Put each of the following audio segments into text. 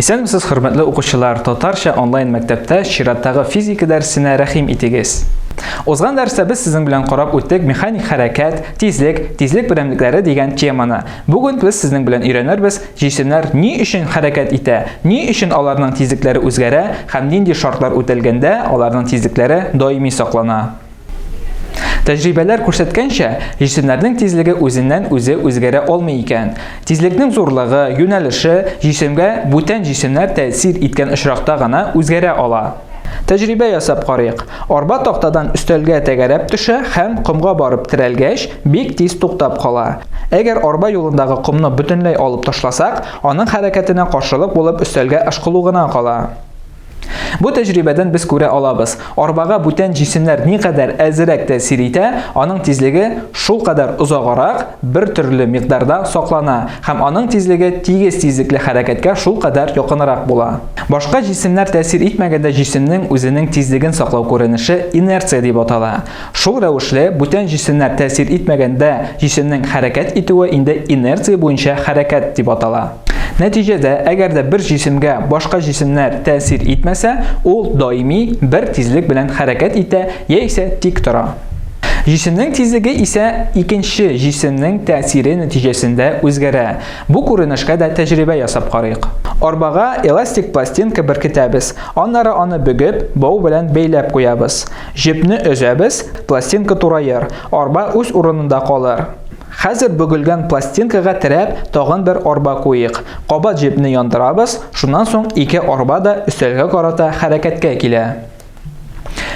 Исәнмесез, хөрмәтле укучылар! Татарча онлайн мәктәптә чираттагы физика дәресенә рәхим итегез! Узган дәрестә без сезнең белән карап үттек механик хәрәкәт, тизлек, тизлек берәмлекләре дигән теманы. Бүген без сезнең белән өйрәнербез, җисемнәр ни өчен хәрәкәт итә, ни өчен аларның тизлекләре үзгәрә һәм нинди шартлар үтәлгәндә аларның тизлекләре даими саклана. Тәҗрибәләр күрсәткәнчә, җисемнәрнең тизлеге үзеннән-үзе үзгәрә алмый икән. Тизлекнең зурлыгы, юнәлеше җисемгә бүтән җисемнәр тәэсир иткән очракта гына үзгәрә ала. Тәҗрибә ясап карыйк. Арба тактадан өстәлгә тәгәрәп төшә һәм, комга барып терәлгәч, бик тиз туктап кала. Әгәр арба юлындагы комны бөтенләй алып ташласак, аның хәрәкәтенә каршылык булып өстәлгә ышкылу гына кала. Бу тәҗрибәдән без күрә алабыз, арбага бүтән җисемнәр никадәр әзерәк тәэсир итә, аның тизлеге шулкадәр озагарак, бер төрле микъдарда саклана һәм аның тизлеге тигез тизлекле хәрәкәткә шулкадәр якынрак була. Башка җисемнәр тәэсир итмәгәндә җисемнең үзенең тизлеген саклау күренеше инерция дип атала. Шул рәвешле, бүтән җисемнәр тәэсир итмәгәндә җисемнең хәрәкәт итүе инде инерция буенча хәрәкәт дип атала. Нәтиҗәдә, әгәр дә бер җисемгә башка җисемнәр тәэсир итмәсә, ул даими бер тизлек белән хәрәкәт итә яисә тик тора. Җисемнең тизлеге исә икенче җисемнең тәэсире нәтиҗәсендә үзгәрә. Бу күренешкә дә тәҗрибә ясап карыйк. Арбага эластик пластинка беркетәбез, аннары аны бөгеп, бау белән бәйләп куябыз. Җепне өзәбез, пластинка тураер, арба үз урынында калыр. Хәзер бөгелгән пластинкага терәп, тагын бер арба куйыйк. Кабат җепне яндырабыз, шуннан соң ике арба да өстәлгә карата хәрәкәткә килә.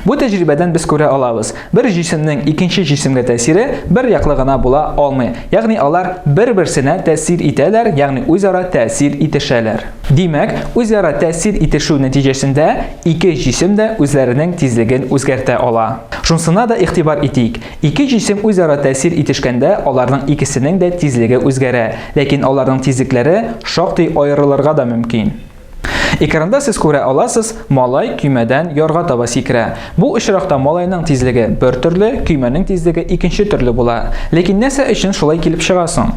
Бу тәҗрибәдән без күрә алабыз, бер җисемнең икенче җисемгә тәэсире бер яклы гына була алмый, ягъни алар бер-берсенә тәэсир итәләр, ягъни үзара тәэсир итешәләр. Димәк, үзара тәэсир итешү нәтиҗәсендә Ике җисем дә үзләренең тизлеген үзгәртә ала. Шунсына да игътибар итик, ике җисем үзара тәэсир итешкәндә аларның икесенең дә тизлеге үзгәрә, ләкин аларның тизлекләре шактый аерылырга да мөмкин. Экранда сез күрә аласыз, малай көймәдән ярга таба сикерә. Бу очракта малайның тизлеге бер төрле, көймәнең тизлеге икенче төрле була. Ләкин нәрсә өчен шулай килеп чыга соң?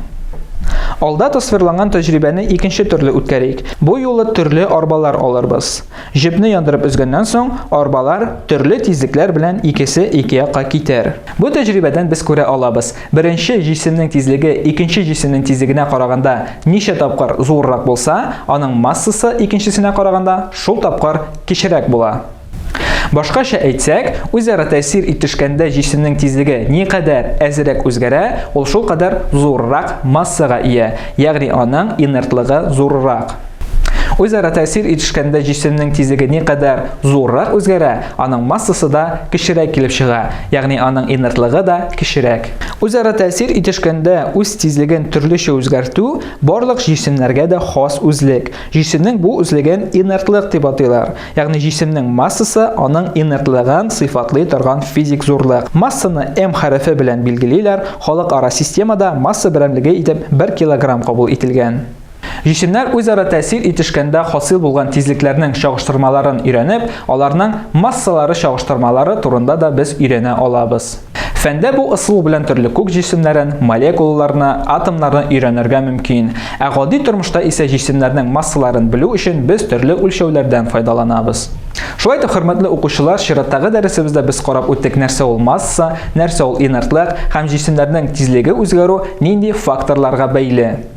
Алда тасвирланган тәҗрибәне икенче төрле үткәрик. Бу юлы төрле арбалар алырбыз. Җепне яндырып өзгәннән соң, арбалар төрле тизлекләр белән икесе ике якка китәр. Бу тәҗрибәдән без күрә алабыз, беренче җисемнең тизлеге икенче җисемнең тизлегенә караганда ничә тапкыр зуррак булса, аның массасы икенчесенә караганда шул тапкыр кечерәк була. Башкача әйтсәк, үзара тәэсир итешкәндә җисемнең тизлеге никадәр әзрәк үзгәрә, ул шулкадәр зуррак массага ия, ягъни аның инертлыгы зуррак. Үзара тәэсир итешкәндә җисемнең тизлеге никадәр зуррак үзгәрә, аның массасы да кечерәк килеп чыга, ягъни аның инертлыгы да кечерәк. Үзара тәэсир итешкәндә үз тизлеген төрлечә үзгәртү барлык җисемнәргә дә хас үзлек. Җисемнең бу үзлеген инертлык дип атыйлар, ягъни җисемнең массасы аның инертлыгын сыйфатлый торган физик зурлык. Массаны М хәрефе белән билгелиләр, халыкара системада масса берәмлеге итеп бер килограмм кабул ителгән. Җисемнәр үзара тәэсир итешкәндә хасил булган тизлекләрнең чагыштырмаларын өйрәнеп, аларның массалары чагыштырмалары турында да без өйрәнә алабыз. Фәндә бу ысул белән төрле күк җисемнәрен, молекулаларны, атомнарны өйрәнергә мөмкин. Ә гади тормышта исә җисемнәрнең массаларын белү өчен без төрле үлчәүләрдән файдаланабыз. Шулай итеп, хөрмәтле укучылар, чираттагы дәресебездә без карап үттек нәрсә ул масса, нәрсә ул инертлык һәм җисемнәрнең тизлеге үзгәрү нинди факторларга бәйле.